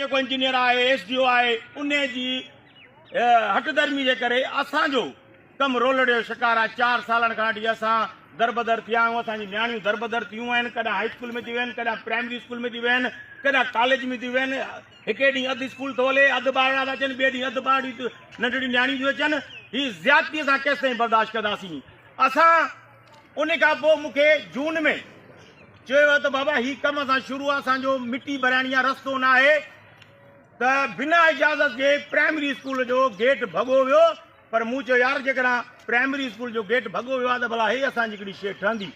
جيڪو انجنيئر آهي، S D O آهي، انهي جي هٽ درمي جي ڪري اسان جو ڪم رولڙي جو شڪار آهي. چار سالن کان وٺي اسان دربدر ٿيا آهيون، اسان جون نياڻيون دربدر ٿيون آهن، ڪڏهن هائي اسڪول ۾ ٿيون ويهن، ڪڏهن پرائمري اسڪول ۾ ٿيون ويهن، ڪڏهن ڪاليج ۾ ٿيون ويهن، هڪي ڏينهن اڌ اسڪول ٿو هلي، اڌ ٻارڙا ٿا اچن، ٻئي ڏينهن اڌ ٻارڙيون ننڍڙيون نياڻيون ٿيون اچن، هي زيادتي اسان ڪيستائين برداشت ڪنداسين؟ اسان ان کان پوء مون کي جون ۾ چيو ويو ته بابا هي ڪم اسان شروع آ اسان جو مٽي ڀرائڻي آ رستو نه آهي ته بنا اجازت جي پرائمري اسڪول جو گيٽ ڀڳو ويو پر مون چيو يار جيڪڏهن پرائمري اسڪول جو گيٽ ڀڳو ويو آ ته ڀلا هي اسان جي ڪهڙي شيء ٺهندي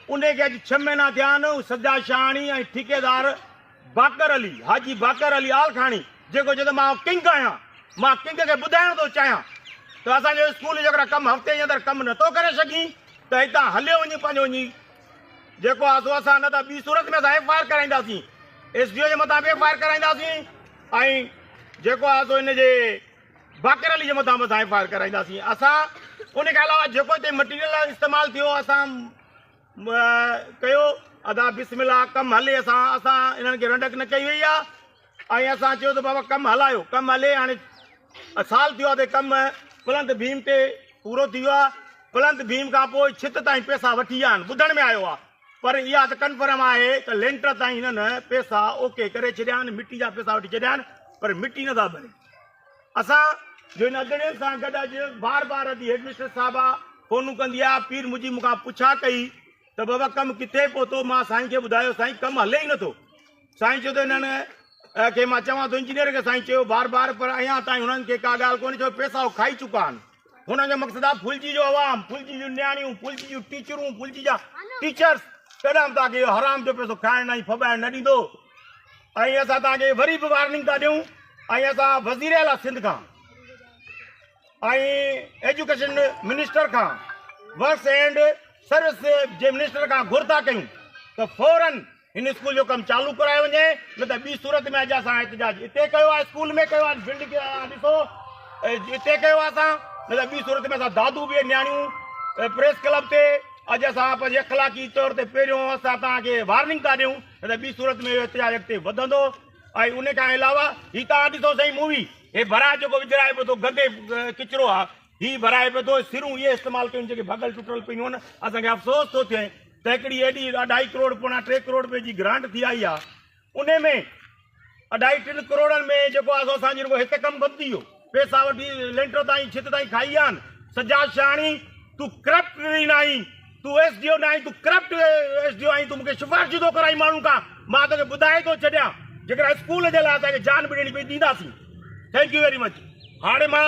ان کي اڄ ڇهه مهينا ٿيا آهن سجا شاهاڻي ۽ ٺيڪيدار باقر علي، حاجي باقر علي آلکاڻي، جيڪو چيو ته مان ڪنگ آهيان، مان ڪنگ کي ٻڌائڻ ٿو چاهيان ته اسان جو اسڪول جيڪڏهن ڪم هفتي جي اندر ڪم نه ٿو ڪري سگهين ته هتان هليو وڃي پنهنجو وڃي جيڪو آهي سو اسان نه ته ٻي صورت ۾ اسان ايف آء آر ڪرائينداسين ايس ڊي او جي مٿان به ايف آء آر ڪرائينداسين ۽ جيڪو آهي سو هن جي باقر علي جي مٿان به اسان ايف آء آر ڪرائينداسين اسان ان کان علاوه جيڪو هتي مٽيريل استعمال ٿيو اسان ڪيو ادا بسم الله ڪم هلي اسان اسان انهن کي رنڊڪ نه ڪئي وئي آهي ۽ اسان چيو ته بابا ڪم هلايو ڪم هلي هاڻي سال ٿيو آهي ڪم پلنت ڀيم تي پورو ٿي ويو آهي پلنت ڀيم کان پوء ڇت تائين پيسا وٺي ويا آهن ٻڌڻ ۾ آيو آهي پر اها ته ڪنفرم آهي ته لينٽر تائين هنن پيسا اوڪي ڪري ڇڏيا آهن مٽي جا پيسا وٺي ڇڏيا آهن پر مٽي نٿا ڀري اسان جو هن اڳڙين سان گڏ اڄ بار بار ادي هيڊمسٽريس صاحبه فونون ڪندي آ پير مجيب مون کان پڇا ڪئي ته بابا ڪم ڪٿي پهتو مان سائين کي ٻڌايو سائين ڪم هلي ئي نٿو سائين چيو ته هنن کي مان چوان ٿو انجنيئر کي سائين چيو بار بار پر اڃا تائين هنن کي ڪا ڳالهه ڪونهي ڇو پئسا هو کائي چڪا آهن. هنن جو مقصد آهي ڦلجي جو عوام، ڦلجي جون نياڻيون، ڦلجي جون ٽيچرون، ڦلجي جا ٽيچرس ڪڏهن به توهان کي اهو حرام جو پيسو کائڻ ۽ ڦٻائڻ نه ڏيندو ۽ اسان توهان کي وري به وارننگ ٿا ڏيون ۽ اسان وزير اعليٰ سنڌ کان ۽ ايجوڪيشن منسٽر کان ورڪس اینڈ سروس جي منسٽر کان گهر ٿا ڪيون ته فوراً هن اسڪول جو ڪم چالو ڪرايو وڃي نه ته ٻي صورت ۾ اڄ اسان احتجاج اتي ڪيو آهي اسڪول ۾ ڪيو آهي فلڊ کي ڏسو اتي ڪيو آهي اسان نه ته ٻي صورت ۾ اسان دادو به نياڻيون پريس ڪلب تي اڄ اسان پنهنجي اخلاقي طور تي پهريون اسان تان کي وارننگ ٿا ڏيون نه ته ٻي صورت ۾ احتجاج اڳتي وڌندو ۽ ان کان علاوه هي تان ڏسو سائين مووي هي برا جيڪو وجھرائي پيو ٿو گندي ڪچرو آهي هي ڀرائي پيو ٿو، سرون اهي استعمال ڪيون جيڪي ڀڳل ٽٽل پيون هن، اسان کي افسوس ٿو ٿئي ته هڪڙي ايڏي اڍائي ڪروڙ پوڻا ٽي ڪروڙ رپئي جي گرانٽ ٿي آئي آهي انهي ۾ اڍائي ٽن ڪروڙن ۾ جيڪو آهي سو اسان جي رڳو هت ڪم بند ٿي ويو پئسا وٺي لينٽر تائين ڇت تائين کائي ويا آهن سجاد شهاڻي تون ڪرپٽ نه آهين تون ايس ڊي او نه آهين تون ڪرپٽ ايس ڊي او آهين تون مونکي سفارشون ٿو ڪرائين ماڻهن کان مان توکي ٻڌائي ٿو ڇڏيان جيڪڏهن اسڪول جي لاء اسان کي جان به ڏيڻي پئي ڏينداسين ٿينڪ يو ويري مچ هاڻي مان